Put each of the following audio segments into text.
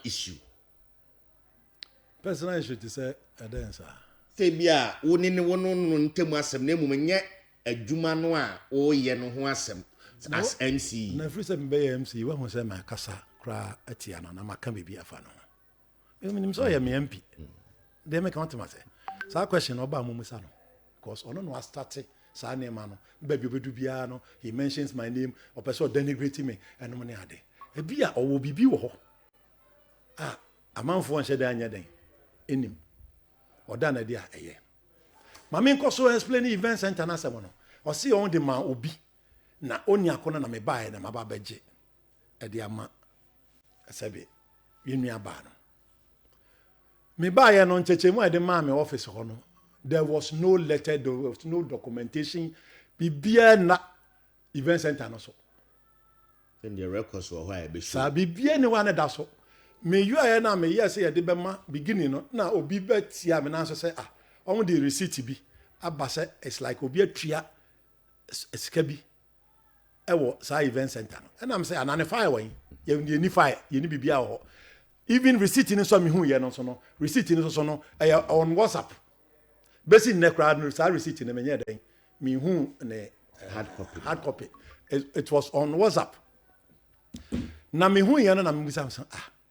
issue. Personal issue te sɛ ɛdɛn saa? Sɛ ebia wo ne ne wo ne no ntam asɛm na mmom nyɛ adwuma no a woreyɛ no ho asɛm as MC. Na ɛfiri sɛ mebɛyɛ MC yi, woahu sɛ makasa koraa atia no anaa maka biribi afa ne ho. Menim sɛ ɔyɛ me MP. Deɛ meka wote ma sɛ saa question na ɔbaa mumisa no because ɔno na wastate saa nneɛma no baabi ɔbɛdu biara no he mentions my name ɔpɛ sɛ ɔdenigrate me ɛnom ne ade ebi a ɔwɔ biribi wɔ hɔ a amanfoɔ nhyɛ dɛ anyɛ dɛn ɛnim ɔda no adi a ɛyɛ ma menkɔ so explain event center no asɛm no ɔse ɔn de ma obi na ɔni ako no na mebaeɛ na maba bɛgye de ama sɛbe yɛn nua baa no me baayɛ no nkyɛkyɛmu a yɛde maa me office hɔ no there was no letter there was no documentation biribiara na event center no so sɛdeɛ records wɔ hɔ a yɛbɛhyɛ saa biribiara ne hɔ a ne da so meyɔɛ no a meyɛɛ sɛ yɛde bɛma beginning no na obi bɛtia me nan so sɛ ah wɔn de receipt bi aba sɛ it's like obi atua sika bi ɛwɔ saa event center no ɛnam sɛ ana ne fire wɔ yi yɛ yɛ ni fire yɛ ni biribi wɔ hɔ even receipt no nso mehu yɛ no nso no receipt no nso no ɛyɛ on whatsapp bɛsi nnɛ koraa no saa receipt no menyɛ dɛn mehu ne hard copy hard copy it, it was on whatsapp na mehu yɛ no na mebisa sɛ ah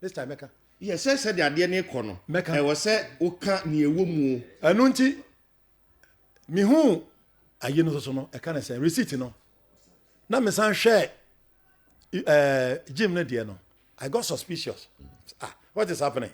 This time mɛka. Yɛ sɛ sɛdeɛ adeɛ no rekɔ no, ɛwɔ sɛ woka nea ɛwɔ mu. Ɛno nti, mehuu ayi no soso no, ɛka ne sɛ receipt no, na mesan hwɛɛ ɛɛ Jim no deɛ no, I got suspicious. Ah, what is happening?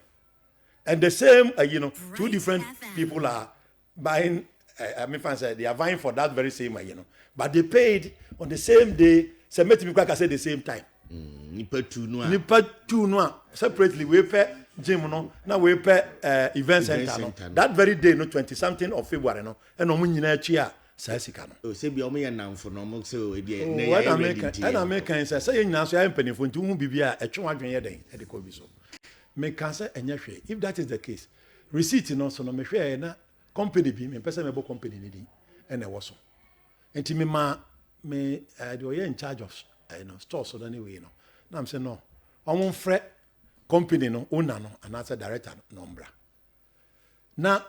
And the same ayi no, two different people are buying uh, me fan sɛ they are vying for that very same ayi no but they paid on the same day sɛ mɛtumi kora ka sɛ the same time mm, nipa tu no a nipa tu no a separately wei pɛ gym no na wei pɛ uh, event center no that very day no twenty something of february no ɛna ɔmo nyinaa akyi a saa sika no. o oh, sɛ bi ɔmo yɛ nanfo na ɔmo sɛ o ebi yɛ ne yɛ ayɛ ready nti yɛ. ɛna mi kan sɛ sɛ yɛ nyinaa so yɛ mpanyinfo nti ohun bibi a ɛtwe wɔn adwene yɛ dɛn ɛde kɔ bi so mi kan sɛ ɛnyɛ hwɛ if that is the case Receipt no so no, mehwɛɛe na company bi, mempɛ sɛ mɛbɔ company no din, na ɛwɔ so. Nti memaa me eh, deɛ ɔyɛ in charge of eh, no, store so no ne wei no, na mesɛ no, wɔn mfrɛ company no owner no anaasɛ director no na ɔmbra. Na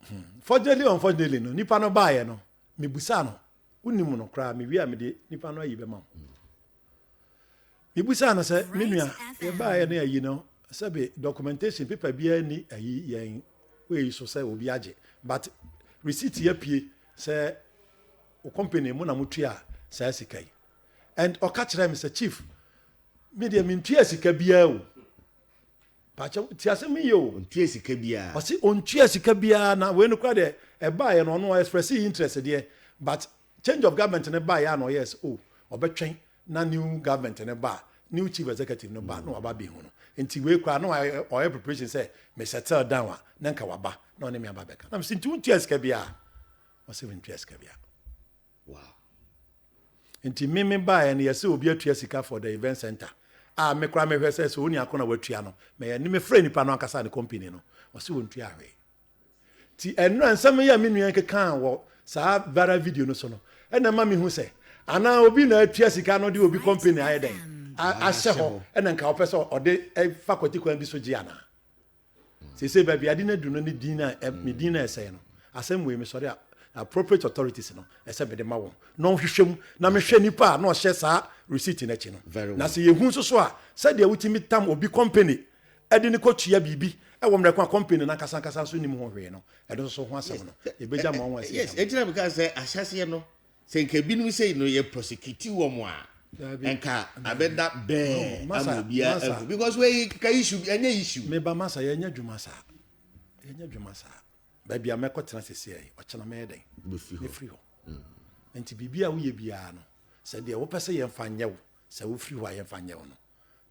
hmm, fortunately or unfortunately no nipa no baayɛ no mebusa no wonim no koraa mewie a mede nipa no ayi bɛma wo mebusa no sɛ me nua yɛbaayɛ no ayi no sɛbe documentation paper biara ni ayi yɛn wei so sɛ obi agye but receipt yɛ pie sɛ o company mu na motua saa sika yi and ɔka kyerɛ me sɛ chief me deɛ mentua sika biara o Pakyɛw tie asɛm yi yie o. Ɔntua sika biaa. Ɔse ɔntua sika biaa na wei no koraa deɛ ɛbaeɛ no ɔno ɔ express interest deɛ but change of government no baeɛ a na ɔyɛɛ sɛ oh ɔbɛtwɛn na new government no ba a new chief executive no ba na waba abɛhu no nti wei koraa na ɔyɛ preparation sɛ me settle down a na nka waba na ɔne me aba abɛka na mese nti wontua sika biaa? Ɔse mentua sika biaa. Wow. Nti me me baeɛ no yɛsɛ obi atua sika for the event center a me koraa mehwɛ sɛ sɛ ɔni ako na watua no mɛyɛ ne mefrɛ nipa no ankasa ne company no ɔse wɔntua hwee ti ɛnura nsɛm yɛ me nua kekaa wɔ saa viral video no so no ɛna ma mehu sɛ anaa obi na atua sika no de obi company ayɛ dɛn ahyɛ hɔ ɛna nka ɔpɛ sɛ ɔde fa kwati kwan bi so gye anaa sese baabi ade no adu no ne din a me din na ɛsɛe no asɛm wei mesɔre a appropriate authorities no ɛsɛ mede ma wɔn na ɔhwehwɛ mu na mehwɛ nipa a na ɔhyɛ saa receipt no akyi no na sɛ yɛhu nso so a sɛdeɛ wotumi tam obi company ɛde ne kɔtua biribi ɛwɔ mmerɛ ko a company no ankasa ankasa nso nim ho hwee no ɛno nso ho asɛm no yɛbɛgya ma wɔn ɛsi ɛgyina mu ka sɛ ahyɛseɛ no Sɛ nka binom sei no yɛ prosecute wɔn a nka abɛda bɛɛ ama obiara ahu because wei ka issue bi ɛnyɛ issue. Meba masa yɛnyɛ adwuma saa yɛnyɛ adwuma saa baabi a mɛkɔ tena sese yɛ ɔkyena mɛyɛ dɛn mefiri hɔ mm. nti biribi a woyɛ biara no sɛ deɛ wopɛ sɛ yɛmfa nyɛ wo sɛ wofiri hɔ a yɛmfa nyɛ wo no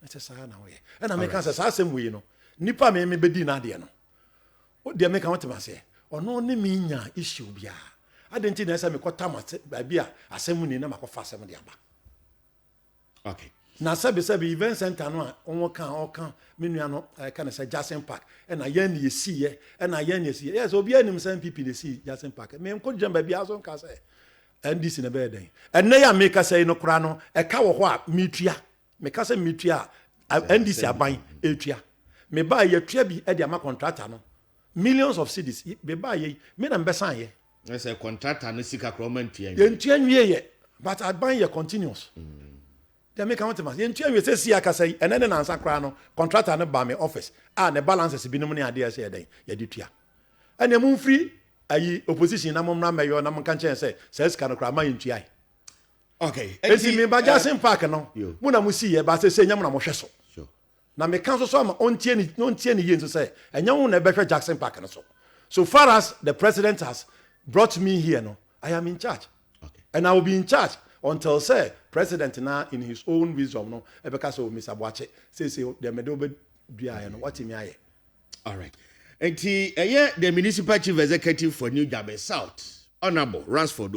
ɛsɛ saa na woyɛ ɛna meka sɛ saa asɛm wei no nipa me mebɛdi no adeɛ no Wo deɛ meka wotem aseɛ. Ɔno ne me nya issue biara. Adɛn nti na ɛsɛ mekɔ tam baabi a asɛm mu ni na makɔfa asɛm de aba? Okay. Na sɛbi sɛbi event center no a wɔn ka wɔn ka me nua no ɛka ne sɛ Jackson Park ɛna yɛn na yɛsi yɛ ɛna yɛn na yɛsi yɛ yɛ sɛ obiara nim sɛ NPP na esi Jackson Park me nko gyina baabi aso nka sɛ NDC na bɛyɛ dɛn ɛnɛ yɛ a mekasa yi no koraa no ɛka wɔ hɔ a metua Meka sɛ metua a, NDC aban retua. Mebaeɛ yɛtua bi de ama contractor no. Millions of cedis. Mebaeɛ yi, me na mebɛsan yɛ. Na sɛ contractor no sika koraa ɔma ntua nwie. Yɛntua nwie yɛ, but aban yɛ continuous. Mm. Deɛ meka ho te ma yɛntua nwie sɛ si akasa yi, ɛnɛ ne nansa koraa no, contractor no ba me office a ne balances binom ne adeɛ sɛ yɛdɛn, yɛde tua. Ɛneɛ momfiri ayi opposition na mommra mmɛyɔ na monka nkyɛn sɛ saa sika no koraa ma yɛntuae. okay eti me ba jasin eh, park no mu na mo si yɛ ba sɛ sɛ nyɛ na mo hwɛ so na me ka so so ama ɔntie ne ɔntie ne yie nso sɛ ɛnyɛ ho na ɛbɛhwɛ jackson park no so so far as the president has brought me here no i am in charge okay. and i will be in charge until sɛ president na in his own wisdom no ɛbɛka sɛ oh, mr boakye sɛ sɛ deɛ mede wobɛduaeɛ no watumi ayɛ all right nti ɛyɛ the municipal chief executive for new jabe south honourable ransford